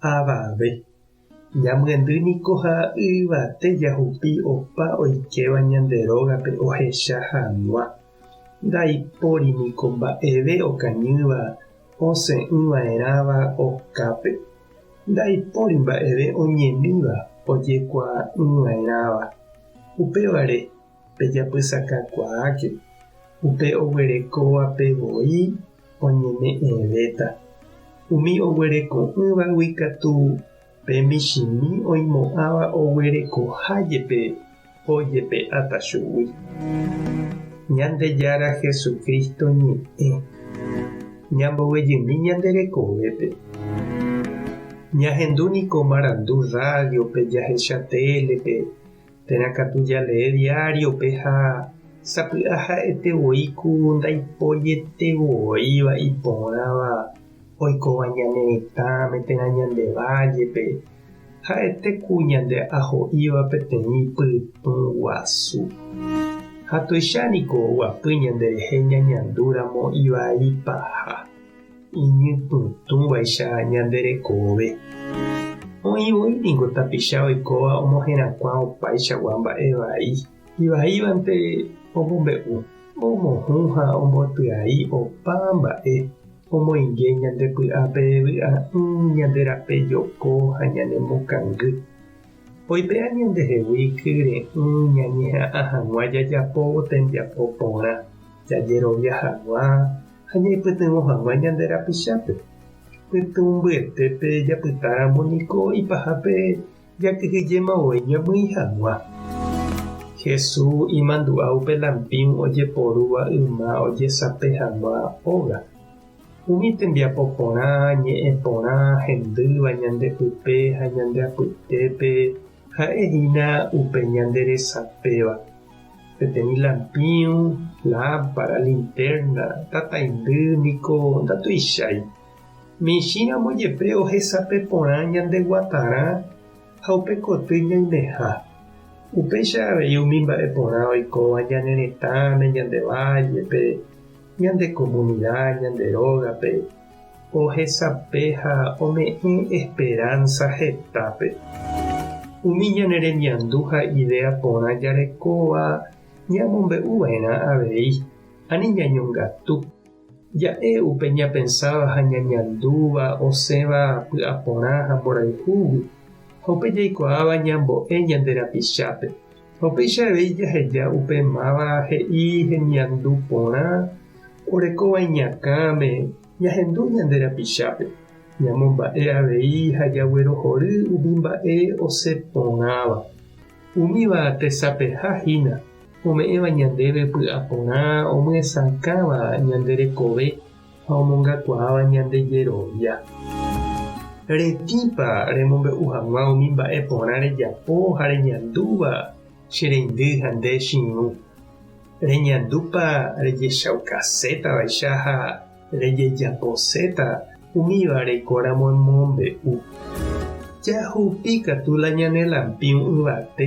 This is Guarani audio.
avave. Ñamyendy niko ha yvate jahupi opa oikéva ñande rógape ohecha hag̃ua. Ndaipóri niko mba'eve okañýva osẽ'ỹva'erãva okápe. Ndaipóri mba'eve oñemíva ojekuaa'ỹva'erãva. Upévare, pejapysakakuaáke, upe oguerekóvape voi oñeme'ẽvéta. Umi oguereko'ỹvagui katu pe michĩmi oimo'ãva oguerekoha jepe ojepe'áta chugui. Ñandejára Jesucristo ñe'ẽ, ñambovyjymi ñande rekovépe. Ñahendu niko marandu rádiope, jahecha télepe, Térã katu jalee diario-pe ha sapy'a ha'ete voi ku ndaiporietevooíva iporãva oikóva ñane retãme térã ñande vállepe, ha'ete ku ñande aho'íva peteĩ pytũ guasu. Ha tuicha niko oguapy ñanderehe ñañandúramo ivai paha. Iñypytũvaicha ñande rekove. Oĩ voi ningo tapicha oikóva omoherakuã opaichagua mba'e vai. Ivaívante omombe'u, omohũ ha ombotyai opa mba'e omoinge ñande py'ape vy'a'ỹ, ñande rape joko ha ñane mokangy. Oipe'a ñandehegui kyre'ỹ ñañeha'ã hag̃ua jajapo tembiapo porã, jajerovia hag̃ua ha ñaipytyvõ hag̃ua ñande rapichápe. Pytũmbyetépe japytáramo niko ipahápe jakyhyjéma voi ñamyĩ hag̃ua. Jesús imandu'a upe lampĩu ojeporúva yma ojesape hag̃ua óga. Umi tembiapo porã, ñe'ẽ porã, hendýva ñande pype ha ñande apytépe Ha'e hína upe ñande resapéva, peteĩ lampíu, lámpara, lintérna, tataindy niko ndatuichái. Michĩramo jepe ohesape porã ñande guatarã ha upe koty ñaimeha. Upéicha avei umi mba'e porã oikóva ñane retãme, ñande vállepe, ñande komunida, ñande rógape. Ohesape ha ome'ẽ esperánsa hetápe. Umi ñane remiandu ha idéa porã jarekóva ñamombe'u va'erã avei, ani ñañongatu. Ja'e upe ñapensáva ha ñañandúva osẽva py'aporã ha mborayhúgui, ha upe jaikuaáva ñambo'e ñande rapichápe. Ha upéicha avei jaheja upe máva he'i hemiandu porã orekóva iñakãme ñahendu ñande rapichápe, ñamomba'e avei ha jaguerohory umi mba'e osẽ porãva. Umíva tesapeha hína ome'ẽva ñandéve py'aporã omyesakãva ñande rekove ha omongakuaáva ñande jerovia. Retĩpa remombe'u hag̃ua umi mba'e porã rejapo ha reñandúva che reindy ha nde che irũ? Reñandúpa rejechaukasétavaicha ha rejejaposéta umíva reikoramo emombe'u? Jahupi katu la ñane lampiu yvate